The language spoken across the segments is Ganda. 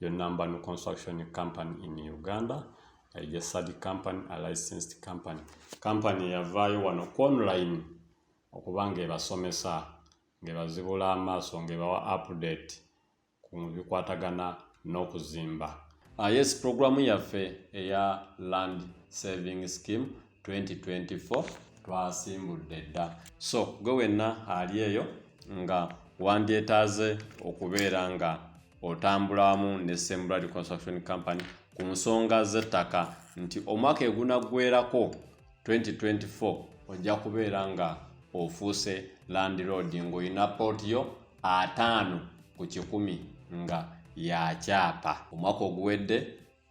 Your number no construction company in Uganda is a study company, a licensed company. Company yavaayo wano ku online okuba ng'ebasomesa ng'ebazibula amaaso ng'ebawa update ku bikwatagana n'okuzimba. Uh, yes, programu yaffe eya land saving scheme 2024 twasimbudde dda so gwe wenna ali eyo nga wandyetaaze okubeera nga otambula wamu ne sembrad construction company ku nsonga z'ettaka nti omwaka egunaggwerako 2024 ojja kubeera nga ofuuse landiroad ng'olina pooti yo ataano ku kikumi nga yakyapa omwaka oguwedde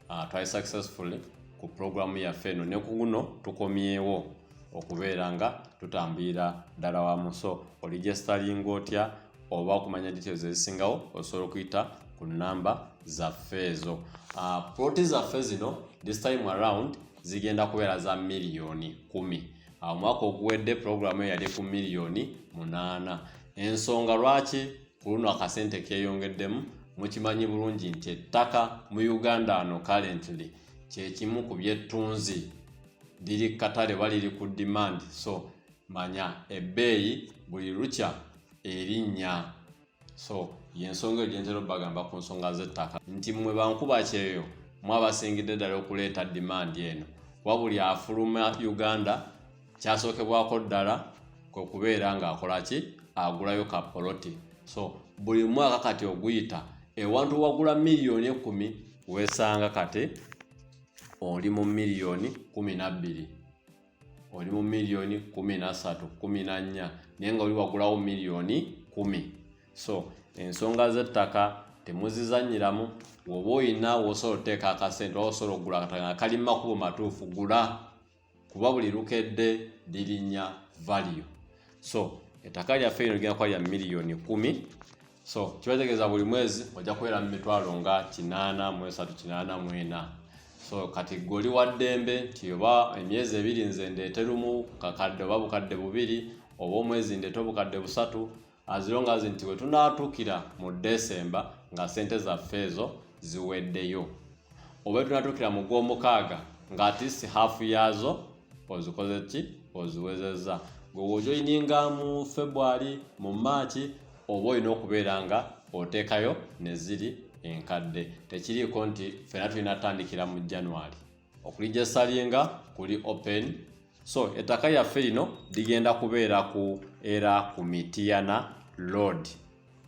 Uh, twali successfully ku pulogulaamu yaffe eno ne ku guno tukomyewo okubeera nga tutambulira ddala wamu so oligestalinga otya oba okumanya details ezisingawo osobola okuyita ku namba zaffe ezo ah, ploti zaffe zino this time around zigenda kubeera za miliyoni kumi ah, omwaka oguwedde pulogulaamu eyo yali ku miliyoni munaana ensonga lwaki ku luno akasente keeyongeddemu mukimanyi bulungi nti ettaka mu uganda ano currently kyekimu ku byettunzi liri katale oba liri ku demand so manya ebbeeyi buli lukya erinnya so yensonga eyo gyentera obagamba ku nsonga z'ettaka nti mmwe bankuba kyeyo mwe abasingidde ddala okuleeta demand eno kuba buli afuluma uganda kyasookebwako ddala kwe kubeera ng'akola ki agulayo ka poloti so buli mwaka kati oguyita ewantu wagula miliyoni ekumi weesanga kati oli mu miliyoni kumi nabbiri oli mu miliyoni kumi nasatu kumi na nnya naye nga oli wagulawo miliyoni kumi so ensonga z'ettaka temuzizanyiramu woba olina wosobola oteeka akasente oba osobola okugula kataka nga kali makubo matuufu gula kuba buli lukedde lirinya value so ettaka lyaffe lino ligenda kuba lya miliyoni kumi so kibategeeza buli mwezi ojja kubeera mu mitwalo nga kinaana mu esatu kinaana mu ena so kati gwe oli wa ddembe nti oba emyezi ebiri nze ndeete lumu kakadde oba bukadde bubiri oba omwezi ndeete obukadde busatu as long as nti wetunatuukira mu desemba nga sente zaffe ezo ziweddeyo oba tunatuukira mu gwomukaaga nga atist half yaazo ozikoze ki oziwezezza gwe wojoininga mu february mu maaki oba olina okubeera nga oteekayo neziri enkadde tekiriiko nti fena tulina tandikira mu january okulijasalinga kuli open so ettaka yaffe lino ligenda kubeera ku era ku mitiyana load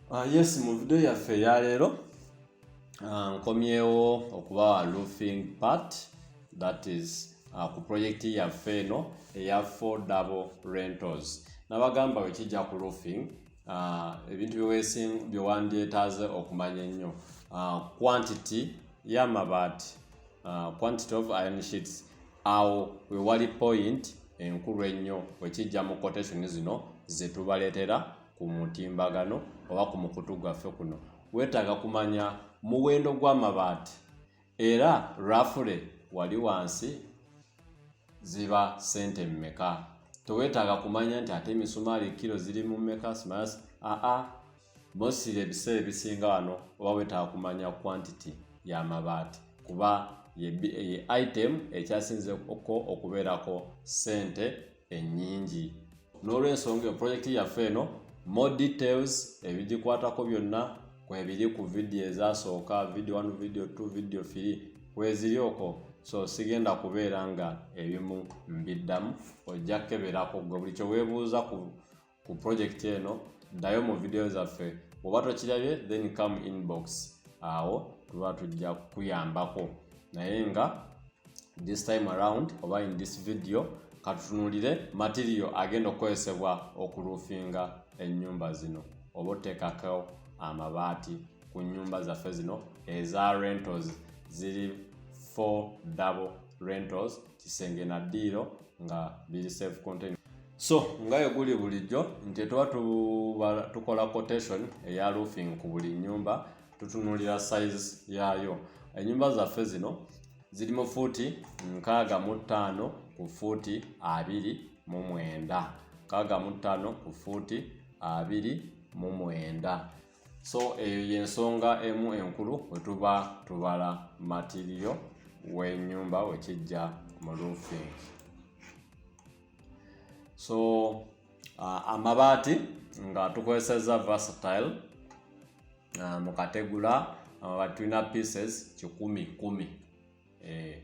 uh, ah, yes mu video yaffe eyaleero uh, nkomyewo okubawa loofing part that is uh, ku project yaffe eno eya four double rentals nabagamba wekijja ku loofing uh, ebintu byewesing byewandyetaaze okumanya ennyo uh, quantity yamabaati uh, quantity of iron sheets awo wewali point enkulu ennyo wekijja mu quotation zino zetubaleetera ku mutimbagano oba ku mukutu gwaffe kuno weetaaga kumanya muwendo gw'amabaati era rafule wali wansi ziba sente mmeka tewetaaga kumanya nti ate emisumaali kiro ziri mu mmeka smas aa Mostly ebiseera ebisinga wano oba wetaaga kumanya quantity ya mabaati kuba ye item ekyasinze ko okubeerako ssente ennyingi. N'olwensonga eyo pulojekiti yaffe eno more details ebigikwatako byonna kwebiri ku vidiyo ezasooka vidiyo 1 vidiyo 2 vidiyo 3 kweziri okwo so sigenda kubeera nga ebimu mbiddamu ojja kukeberako gwe buli kyeweebuuza ku ku project eno ddayo mu vidiyo zaffe bwoba tokirabye then come inbox awo tuba tujja kukuyambako naye nga this time around oba in this video katutunulire material agenda okukozesebwa okulufinga ennyumba zino oba oteekako amabaati ku nnyumba zaffe zino eza rentals ziri four double rentals kisenge na ddiiro nga biri safe contain so nga eguli bulijjo nti tuba tukola quotation eya roofing ku buli nyumba tutunulira size yaayo enyumba zaffe zino ziri mu fuuti nkaaga mu ttaano ku fuuti abiri mu mwenda nkaaga mu ttaano ku fuuti abiri mu mwenda so eyo eh, yensonga emu enkulu wetuba tubala matiriyo wenyumba wekijja mu roofing so uh, amabaati nga tukozeseza versatile uh, mu kategula amabaati tulina pieces kikumi kumi eh.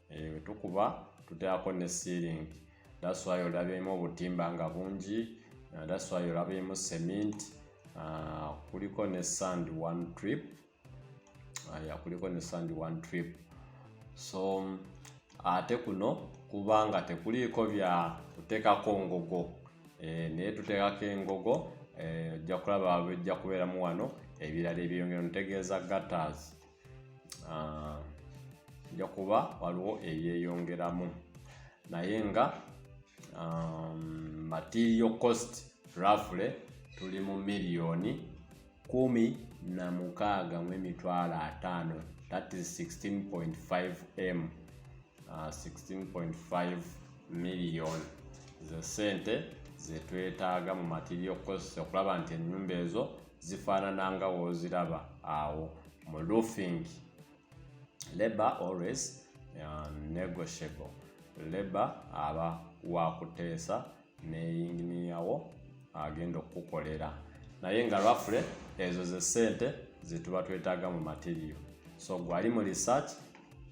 eyo eh, tukuba tuteako ne sealing that's why olabyemu obutimba nga bungi uh, that's why olabyemu cement uh, kuliko ne sand one trip uh, ya kuliko ne sand one trip so ate kuno kubanga tekuliiko bya kutekako ngogo eh, naye tutekako engogo eh, ojja kulaba wejja kubeeramu wano ebirala ebyeyongera ntegeeza gatters ah, nja kuba waliwo ebyeyongeramu naye nga um, material cost rafule tuli mu miliyoni kumi na mukaaga mu emitwalo ataano that is 16.5 m uh, 16.5 million ze sente zetwetaaga mu material cost okulaba nti enyumba ezo zifaanana nga woziraba awo mu roofing labor always uh, negotiable labor aba wakuteesa ne yinginiyawo agenda okukukolera naye nga rafule ezo ze sente zetuba twetaaga mu materiyo so gwali mu research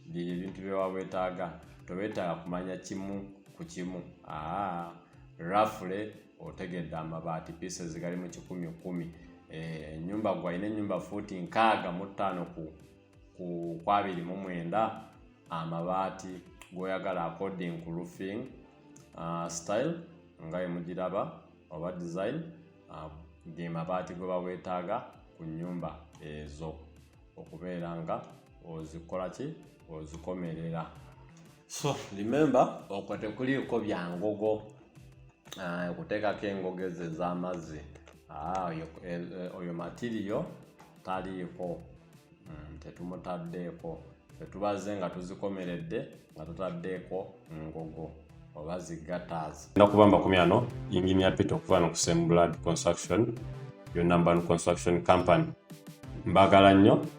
bye ebintu byewa wetaaga towetaaga kumanya kimu ku kimu aa rafule otegedde amabaati pieces gali mu kikumi kumi eh, enyumba e, gwalina enyumba fuuti nkaaga mu ttaano ku kwabiri mu mwenda amabaati gwoyagala according ku roofing uh, style nga emugiraba oba design uh, ge mabaati gwe bawetaaga ku nyumba ezo okubeera nga ozikola ki ozikomerera so remember okwo tekuliiko bya ngogo ah, okuteekako engogo ezo ez'amazzi ah, eh, eh, oyo matiriyo taliiko mm, tetumutaddeeko tetubaze nga tuzikomeredde nga tutaddeeko ngogo oba zigataazi nakuba mbakumyano ingini ya pita okuva no ku semblad construction yonna mbanu construction company mbagala nnyo